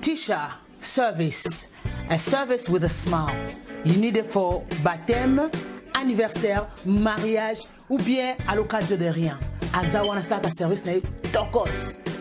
Tisha service, a service with a smile. You need it for baptême, anniversaire, mariage ou bien à l'occasion de rien. Azawana start a service na tokos.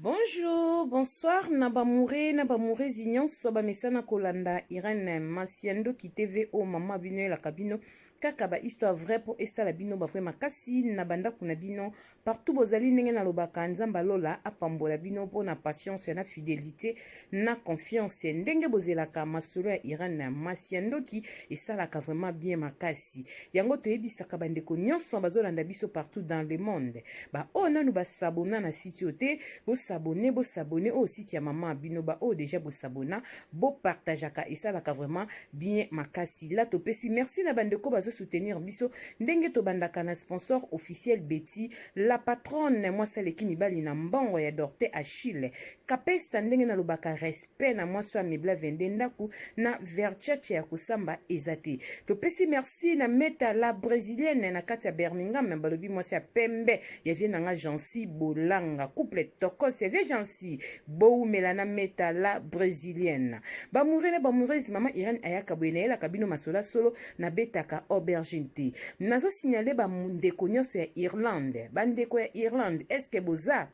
Bonjour, bonsoir na bamoure na bamourezi nyonso bamesana kolanda Irene Masi ya Ndoki TV o mama bino elaka bino kaka ba histoire vrai mpo esala bino ba vrai makasi na bandako na bino partout bozali ndenge nalobaka nzambe lola apambola bino mpo na patience na fidelité na confiance ndenge bozelaka masolo ya Irene Masi ya Ndoki esalaka vraiment bien makasi Kasi yango toyebisaka bandeko nyonso bazolanda biso partout dans le monde. Ba oyo nanu basabona na site oyo te, bosabone, bosabone oyo site ya mama bino. Ba oyo deja bosabona, bopartageaka, esalaka vraiment bien makasi. La topesi merci na bandeko bazo soutenir biso ndenge tobandaka na sponsor officiel Betty, la patronne mwasi aleki mibali na mbongo ya Dorte Achille. Kapesa ndenge nalobaka respect mpe na mwasi wa mibla 22 ndako na verchurch ya kosamba eza te topesi merci na meta la brésilienne na kati ya birmingham balobi mwasi ya pembe ya vie na nga jansi bolanga couple tokos ya vie jansi bowumela na meta la brésilienne bamoure na bamoureuse mama irene ayaka boye nayelaka bino masola solo nabetaka aubergine te nazosignale bandeko nyonso ya irlande bandeko ya irlande eske boza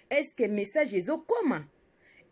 Eske message ezokoma?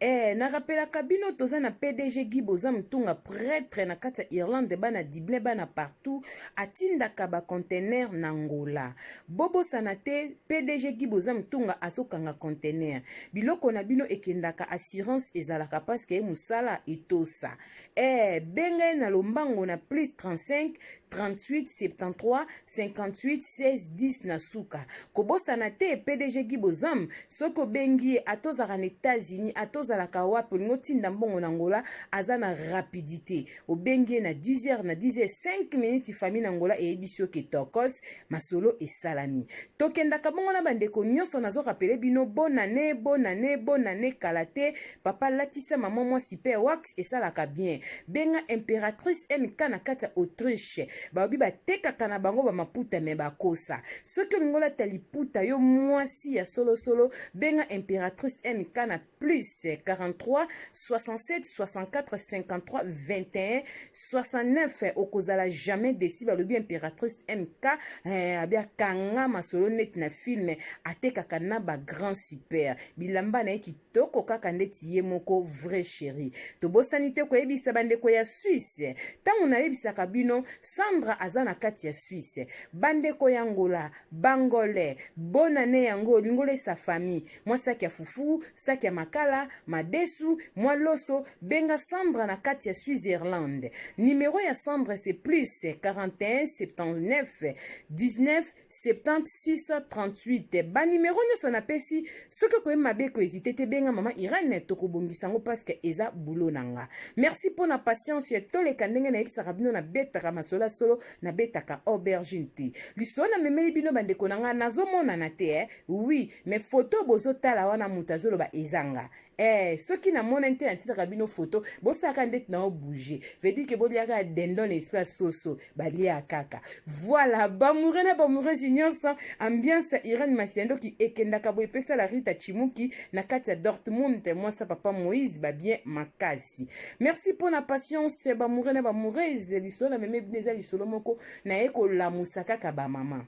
Eh, na rappelaka bino toza na PDG Guy Boza Mutunga prêtre na kati ya Irlande bana Dublin bana partout atindaka ba conteneur na Angola. Bobosana te PDG Guy Boza Mutunga azokanga conteneur. Biloko na bino ekendaka assurance ezalaka parce que musala etosa. Eh, benga ye na lombango na plus 35 38 73 58 16 10 na suka kobosana te pdg gi bozam soki obengi ye ata ozalaka na états-unis ata ozalaka wapi olingi otinda mbongo na ngola aza na rapidité obengi ye na 10 heures na 10 heures 5 minutes famille na ngola eyebisi yo ke tokos masolo esalami tokendaka bongo na bandeko nyonso nazorapele bino bonane bonane bonane kala te papa latisa mama mwasi pe wax Budapest esalaka bien. Benga imperatrice MK na kati ya Autriche. Baobi batekaka na bango ba maputa me bakosa. Soki olingi olata liputa yo mwasi ya solo solo, benga imperatrice MK na plus 43 67 64 53 21 69 okozala jamais desi balobi imperatrice mk eh, abia kanga masolo neti na filme atekaka na ba grand super bilamba na ye Toko kaka ndeti ye moko vrai cheri. Tobosani te koyebisa bandeko ya Suisse. Tango nayebisaka bino Sandra aza na kati ya Suisse. Bandeko ya Angola, b'angolais, bonne annee yango lingola esa famille. Mwa sac ya fufu, sac ya makala, madesu, mwa loso, benga Sandra na kati ya Suisse-Irlande. Numero ya Sandra c'est plus 41 79 19 70638 banimero nyonso napesi soki okoyebi mabe ekoezite te benga mama irene tokobongisa yango paske eza bulo na nga merci mpo na patience toleka ndenge nayebisaka bino nabetaka masolo ya solo nabetaka aubergine te lisolo namemeli bino bandeko na nga nazomonana te eh? oui mais foto bozotala wana moto azoloba ezanga Eh, soki namonani te natindaka bino foto bosalaka ndeti na obouge vedire ke boliaka dendon na esprit ya soso balia kaka voilà bamoure na bamoureuse nyonso ambiance ya irene masiandoki ekendaka boye epesa la rita chimuki na kati ya dortmund mwasa papa moïse babien makasi merci mpo na patience bamoure na bamoureuse lisolo na meme bino eza lisolo moko naye kolamusa kaka bamama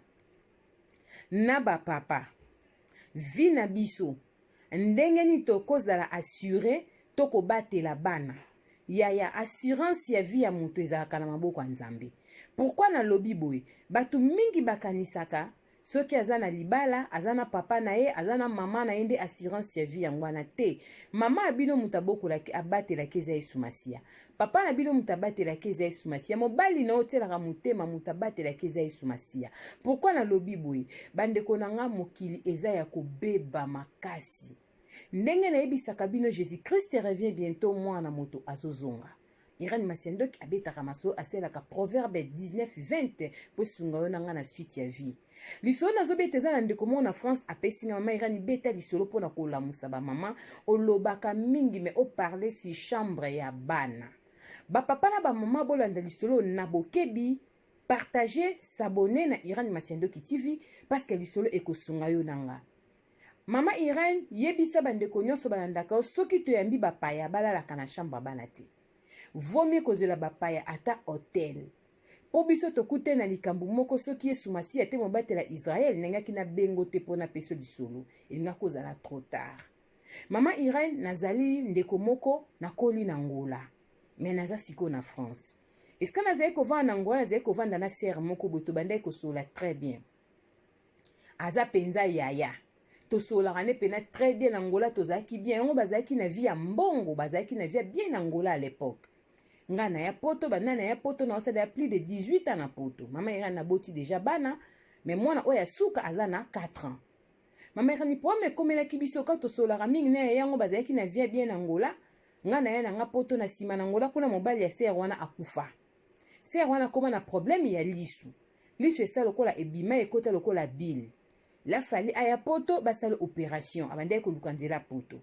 na bapapa vi na biso Ndenge nini tokozala assure to kobatela bana? Yaya, assurance ya vie ya moto ezalaka na maboko ya Nzambe. Pourquoi nalobi boye? Bato mingi bakanisaka soki aza na libala aza na papa na ye aza na mama na ye nde assurance ya vie yango wana te mama ya bino moto abokolaki abatelaki eza yesu masiya papa na bino moto abatelaki eza yesu masiya mobali na yo otyelaka motema moto abatelaki eza yesu masiya pourkui nalobi boye bandeko na ngai mokili eza ya kobeba makasi ndenge nayebisaka bino jésus christ revient bientôt mwana moto azozonga irani masiandoki abetaka maso asalelaka proverbe 19 20 mpo esunga yo na ngai na suite ya vie Lisolo nazo beta eza na ndeko moko na France apesi nga mama Irani beta lisolo pona kolamusa ba mama olobaka mingi mais o parler si chambre ya bana ba papa na ba mama bolanda lisolo na bokebi partager s'abonner na Irani Masiandoki TV parce que lisolo ekosunga yo nanga Mama Irene yebisa bandeko nyonso balandaka yo soki toyambi bapaya balalaka na chambre bana te. Vomi kozela bapaya ata hotel. Mpo biso tokutani na likambo moko, soki Yesu Masiya te mobateli ya Israël, nengaki na bengo te mpo na peso lisolo. Elingaki kozala trop tard. Maman Irène, nazali ndeko moko na koli na Angola. Mais naza sikoyo na France. Esika nazali kovanda na Angola, nazali kovanda na sœur moko boye tobandaki kosolola très bien. aza mpenza yaya tosolaka nde mpena très bien na angola tozalaki bien yango bazalaki na vie ya mbongo bazalaki na vie ya bien na angola à l'époque nga na ya poto banda na ya poto na osala ya plus de 18 ans na poto mama irani naboti deja bana me mwana oyo ya suka aza na 4 ans mama irani problème ekomelaki biso ka tosolaka mingi na ya yango bazalaki na vie ya bien na angola nga na ya na nga poto na nsima na angola kuna mobali ya ser wana akufa ser wana akoma na problème ya lisu Lisu esa lokola ebima ekota lokola bill. La fali aya poto basala operation abandaki koluka nzela poto.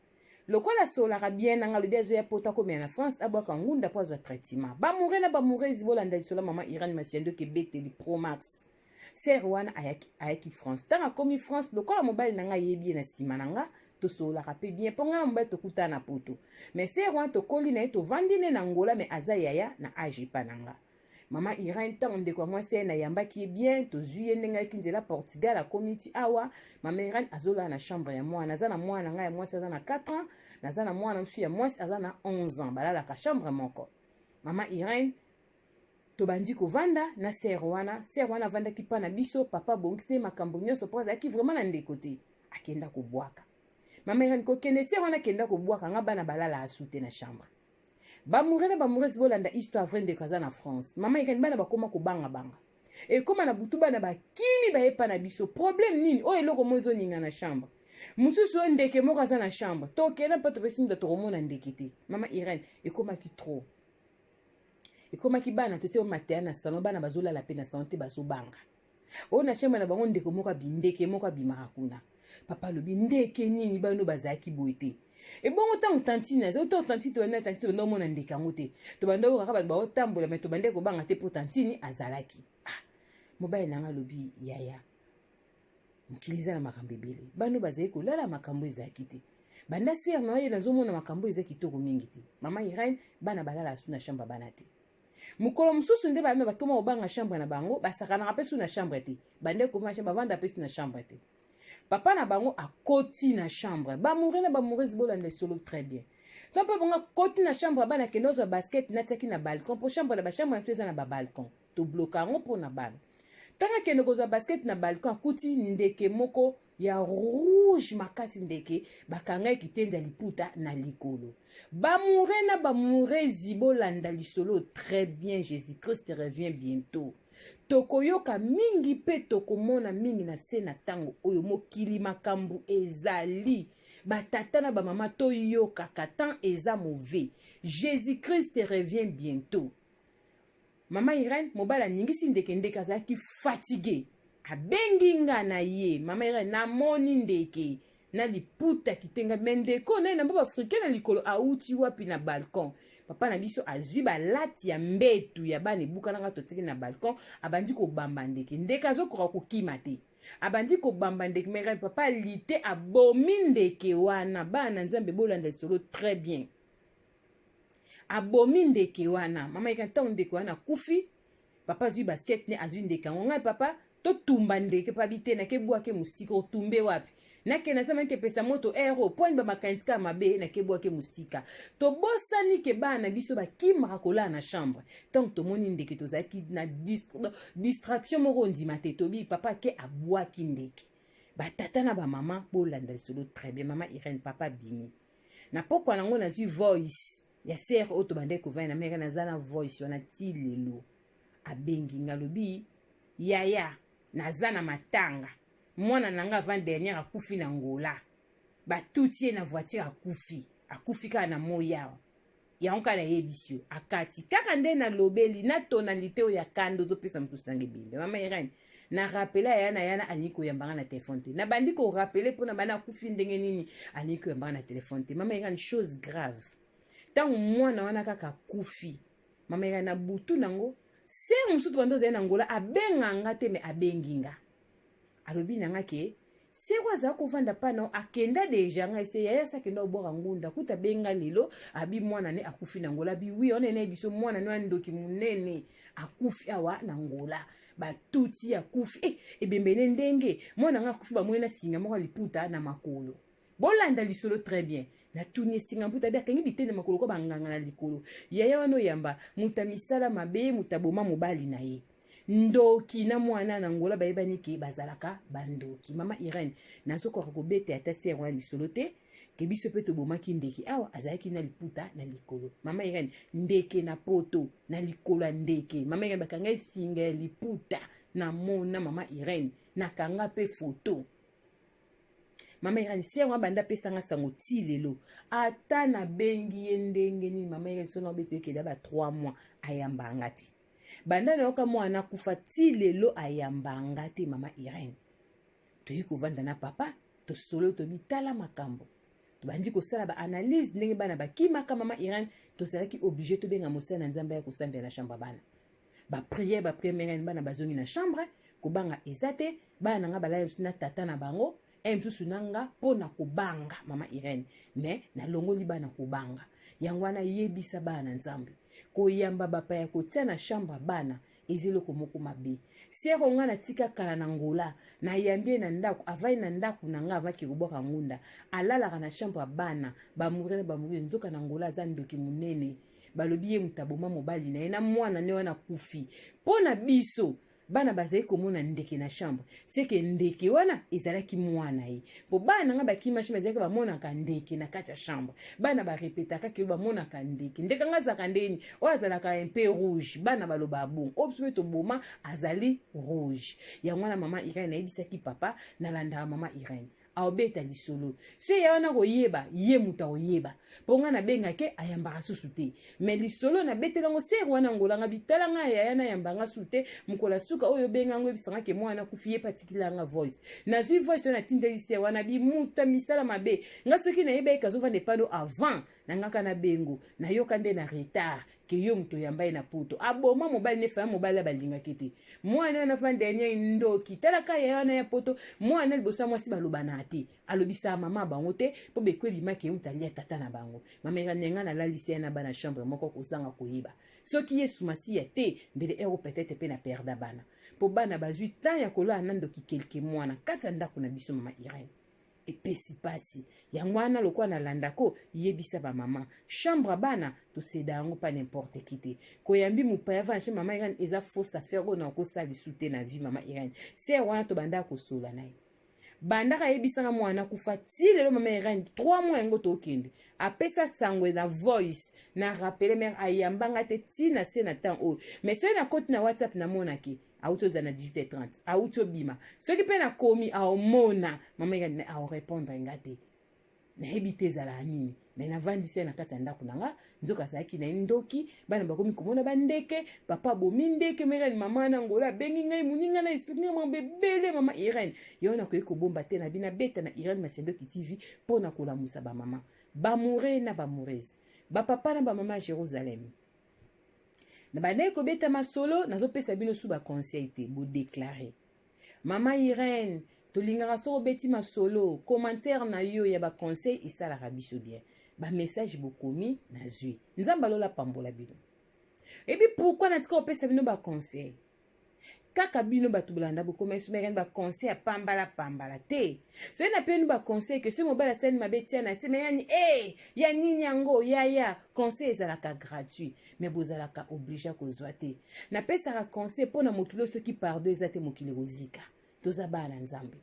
Lokola asolaka bien nanga lobi azoya poto akomela na France abwaka ngunda po azwa traitement. Ba moure na ba mourezi bolanda lisola maman Irène Masiando ke beteli pro max. Sœur wana ayaki, ayaki France. Tanga komi France lokola mobali nanga yebi ye na sima nanga tosololaka pe bien po ngai mobali tokutana na poto. Mais sœur wana tokoli na ye tovandi ne na Angola mais aza yaya na age epa nanga. mama irene ntango ndeko ya mwasi aye nayambaki ye bien tozwi ye ndenge ayaki nzela portugal akomi ti awa mama irene azolala na chambre ya mwana aza na mwana na ngai ya mwasi aza na 4 ans naza na mwana mosusu ya mwasi aza na 11 ans balalaka chambre moko mama irene tobandi kovanda na sere wana sere wana avandaki mpa na biso papa abongisi nde makambo nyonso mpo azalaki vraimen na ndeko te akenda kobwaka mama irene kokende sere wana akenda kobwaka nga bana balala asute na chambre Ba mourre na ba mourres bolanda histoire vrai ndeko aza na France. Mama ikani bana bakoma kobanga banga. Ekoma na butu bana bakimi bayepa na biso. Problème nini? Oyo eloko mo ezoninga na chambre. Mosusu oyo ndeke moko aza na chambre. Tokenda mpe topesi mutu tokomona ndeke te. Mama Irène ekomaki trop. Ekomaki bana totie mateya na salon bana bazolala mpe na salon te bazobanga. oyo na chambre na bango ndeko moko abindeke moko abimaka kuna papa alobi ndeke nini bano bazalaki boye te ebongo ntango tantine aza to tantine tobanda tantine tobanda omona ndeke yango te tobanda oyo kaka bato baotambola me tobanda kobanga te mpo tantine azalaki ah, mobali na ngai alobi yaya mokili eza na makambo ebele bano bazali kolala makambo ezalaki te banda ser na ye nazomona makambo eza kitoko mingi te mama irene bana balala asu na chambre bana te mokolo mosusu nde bana bakoma kobanga chambre na bango basakanaka mpe su na chambre te bande kofima chambre bavanda mpe su na chambre te papa na bango akoti na chambre bamoure na bamourese bolanda esolo très bien to mpe bongo akoti na chambre ya bana kende ozwa basket natiaki na balcon mpo chambre na bachambre na biso eza na babalcon tobloka yango mpo na bana ntango akende kozwa basket na balcon akuti ndeke moko ya rouge makasi ndeke bakangai kitendi ya liputa na likolo bamoure na bamourezi bolanda lisolo très bien jésus christ revient bientôt tokoyoka mingi mpe tokomona mingi na se na ntango oyo mokili makambo ezali batata na bamama toyokaka temps eza mauvais jésus christ revient bientôt Mama Irène, mobali aningisi ndeke, ndeke azalaki fatigue. Abengi nga na ye, mama Irène, namoni ndeke na liputa kitenga me ndeko naye na mboka africain na likolo auti wapi na balcon papa na biso azwi balati ya mbetu ya bana ebukanaka totiki na balcon abandi kobamba ndeke ndeke azokoka kokima te abandi kobamba ndeke mere papa lite abomi ndeke wana bana na nzambe bolanda lisolo très bien abomi ndeke wana mama yeka ntango ndeke wana akufi papa azwi basket ne azwi ndeke yango ngai papa totumba ndeke pabi te nakebwake mosika otumbe wapi nakende asama ete epesa moto ero mpo ani bamakanisi kaka mabe nakebwake mosika tobosani ke bana na biso bakimaka kolala na chambre ntango tomoni ndeke tozalaki na distraction moko ondima te tobi papa ake abwaki ndeke batata na bamama bolanda lisolo très bien mama irene papa bimi na pokwa nango nazwi voice ya ser oyo tobandaki kovanda na meka naza na voice wana ti lelo abengi nga alobi yaya naza na matanga mwana na nga avant dernière akufi na ngola batuti ye na voiture akufi akufi kaka na moyawa yango kaka nayebisi yo akati kaka nde nalobeli na tonalite oyo ya kanda ozopesa moto sange bembe mama irene na rapele aya na yana alingi koyamba nga na telefone te nabandi korapele mpo na bana akufi ndenge nini alingi koyamba nga na telefone te mama irene chose grave ntango mwana wana kaka akufi mama irene na butu nango se mosusu bando ozali na ngola abenga nga te me abengi nga alobi na nga ke seko aza kovanda pano akenda deja ngai se yaya sa akenda kobwaka ngunda kuta abenga lelo abi mwana ne akufi na ngola bi wi wana enaye biso mwana no ya ndoki monene akufi awa na ngola batuti akufi e eh, ebembe ne ndenge mwana ngai akufi bamoni na singa moko ya liputa na makolo Bolanda lisolo très bien. Natuni esinga mputa be akangi bitene makolo kwa banganga na likolo. Yaya wana oyamba muta misala mabe muta boma mobali na ye. Ndoki na mwana na ngola bayebani ke bazalaka bandoki. Mama Irene, nazokoka kobete ata sere wana lisolo te ke biso mpe tobomaki ndeke awa azalaki na liputa na likolo mama irene ndeke na poto na likolo ya ndeke mama irene bakanga esinga ya liputa na mona mama irene nakanga mpe foto mama irani se yango abanda apesanga sango ti lelo ata nabengi ye ndenge nini mama irani soki nabeti ekeli ya ba 3 mois ayamba nga te banda nayoka mwana akufa ti lelo ayamba nga te mama irene toyei kovanda na papa tosolo tobi tala makambo tobandi kosala baanalyse ndenge bana bakimaka mama irene tozalaki oblige tobenga mosala na nzambe ya kosambela na shamba bana ba prière ba prière mère bana bazongi na chambre kobanga eza te bana na nga balali mosusu na tata na bango e mosusu na nga mpo na kobanga mama irene me nalongoli bana kobanga yango wana yebisa bana na nzambe koyamba bapaya kotia na chambre bana eza eloko moko mabe sero ngai natika kala na ngola nayambi ye na ndako avandi na ndako na ngai avaki kobwaka ngunda alalaka na chambre ya bana bamuri na bamuri nzoka na ngola aza ndoki monene balobi ye moto aboma mobali na ye na mwana ne wana akufi mpo na biso bana bazali komona ndeke na chambre seke ndeke wana ezalaki mwana ye mpo bana na ngai bakimashima ezalaki bamonaka ndeke na kati ya chambre bana barepetaka kilo bamonaka ndeke ndeke ngai azalaka ndeni oyo azalaka mpe rouge bana balobaka bongo oyo biso mpe toboma azali rouge yango wana mama irene ayebisaki papa nalandaka mama irene aobeta lisolo so eya wana koyeba ye moto akoyeba mpo ngai nabenga ke ayambaka susu te me lisolo nabetela yango sere wana ngolanga bitala ngai yaya nayamba nga susu te mokolo ya suka oyo obenga yango oyebisanga ke mwana nakufi ye mpe atikila yanga voice nazwi voice wana natindeli sere wana bimuta misala mabe ngai soki nayebi ayeke azovanda epano avant na ngaka na bengo nayoka nde na retard ke yo moto oyamba ye na poto aboma mobali ne faya mobali ya balingaki te mwana wana vanda ya nyai ndoki talaka yaya wana ya poto mwana liboso ya mwasi balobanaka te alobisaka mama bango te mpo beko ebimaki ye moto alia tata na bango mamela nenga nalalisi ye na bana chambre moko kozanga koyeba soki yesu masiya te mbele ero petete mpe na perda bana mpo bana bazwi temps ya kolala na ndoki kelke mwana kati ya ndako na biso mama irene epesi pasi yango wana lokola nalandako yebisa bamama chambre bana toseda yango pa n'importe qui te koyambi mopaya vana chez mama irene eza fausse affaire oyo nakosala lisu te na vie mama irene ser wana tobandaka kosola na ye bandaka ayebisanga mwana kufa ti lelo mama irene 3 mois yango tokende apesa sango na voice na rappele mare ayambanga te ti na se na temps oyo mais soki nakoti na whatsapp namonaki auti ozala na 18h30 auti obima soki mpe nakomi aomona mama yekani me aorepondre nga te nayebi te ezalaka nini me navandisi ye na kati ya ndako na nga nzoka azalaki na ye ndoki bana bakomi komona bandeke papa abomi ndeke ma irene mama na ngola abengi ngai moninga na esplike ngai mambo ebele mama irene yango nakoki kobomba te nabi nabeta na irene masendoki tv mpo na kolamusa bamama bamoure na bamourese bapapa na bamama ya jérusalem Na bandaki kobeta masolo, nazopesa bino su ba conseil te, bo declare. Mama Irene, tolingaka soko obeti masolo, commentaire na yo ya ba conseil esalaka biso bien. Ba message bokomi nazwi. Nzambe alola pambola bino. Ebi pourquoi natika kopesa bino ba conseil? kaka bino bato bolanda bokoma yesu mekani baconseil ya pambala pambala te soki napeni baconseil ke soki mobali asali mabe tia na se meyani e eh, ya nini yango yaya conseil ezalaka gratuit me bozalaka oblige kozwa te napesaka conseil mpo na mokili oyo soki pardon eza te mokili ekozika toza bana na nzambe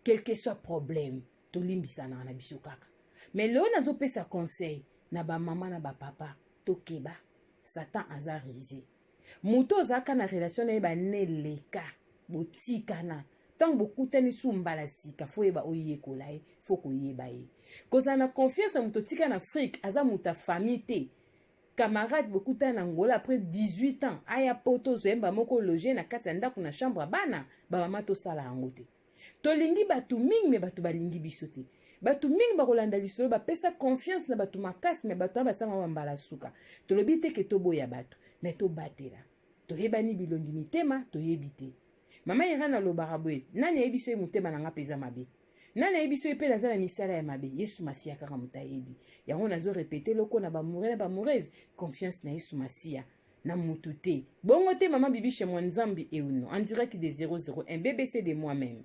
quelque soit problème tolimbisanaka na biso kaka me leo nazopesa conseil na bamama na bapapa tokeba satan aza rise moto ozalaka na relation na ye bane eleka botikana ntango bokutani su mbala sika fo yeba oyekola ye fo koyeba ye kozala na confiance na moto otika na afrique aza moto ya famille te camarade bokutana na ngola après 18 ans aya poto ozwa yemba moko loge na kati ya ndako na chambre ya bana bamama tosala yango te tolingi bato mingi me bato balingi biso te bato mingi bakolanda lisolo bapesa confiance na bato makasi me bato wana basangama bambala suka tolobi te ke toboya bato me tobatela toyebani bilongi mitema toyebi te mama irane alobaka boye nani ayebi so ye motema na ngai mpe eza mabe nani ayebi so ye mpe naza na misala ya mabe yesu masiya kaka moto ayebi yango nazo repete loko na bamoure na bamoureuse confiance na yesu masiya na mutu te bongo te mama bibishe mwa nzambi euno en direct de 001 bbc de moi même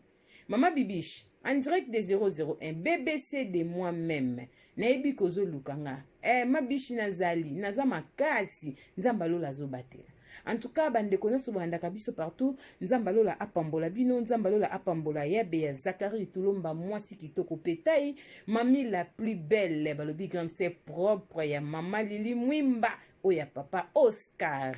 mama bibishe en direct de 001 bbc de moi même nayebi kozoluka nga eh, mabishi nazali naza makasi nzambe alola azobatela en tout cas bandeko nyonso bolandaka biso partout nzambe alola apambola bino nzambe alola apambola yabe ya zakari tulomba mwasi kitoko petai mami la plus belle balobi grande se propre ya mama lili mwimba oyo ya papa oscar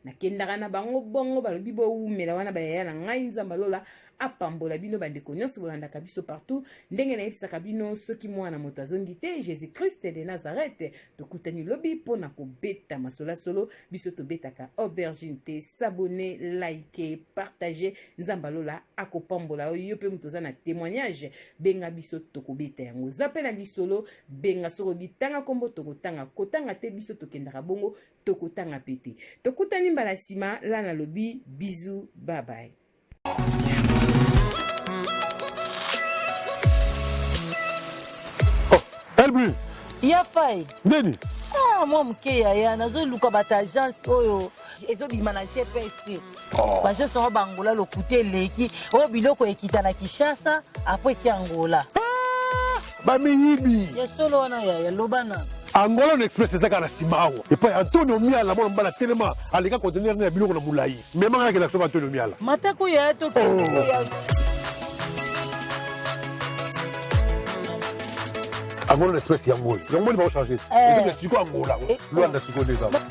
nakendaka na bango bongo balobi bowumela wana bayaya na ngai nzambe lola apambola bino bandeko nyonso bolandaka biso partout ndenge nayebisaka bino soki mwana moto azongi te jésus christ de nazareth tokutani lobi mpo na kobeta masolasolo biso tobetaka aubergine te sabone like partage nzambe lola akopambola yo mpe moto oza na témoignage benga biso tokobeta yango oza mpe na lisolo benga soki olingi tanga nkombo tokotanga kotanga te biso tokendaka bongo tokotanga mpe te tokutani mbala nsima la nalobi bizu babaye oh, elbi ya fai nini ah, mwa moke yaya nazoluka bato agence oyo ezobima na gps te oh. bajeste yango bangola lokuta eleki oyo biloko ekita na kinshasa apres eki angola ah! bamiyibi ya solo wana yaya loba na angola na express ezaka na nsima awa epai antonio miala mwana mobala telema aleka conteneur na ya biloko na molai memangaki na soba antonio miala matako yaya to angola na express yango oyo yango moni bakochange eh. siko angola eh. lwanda siko nde ezala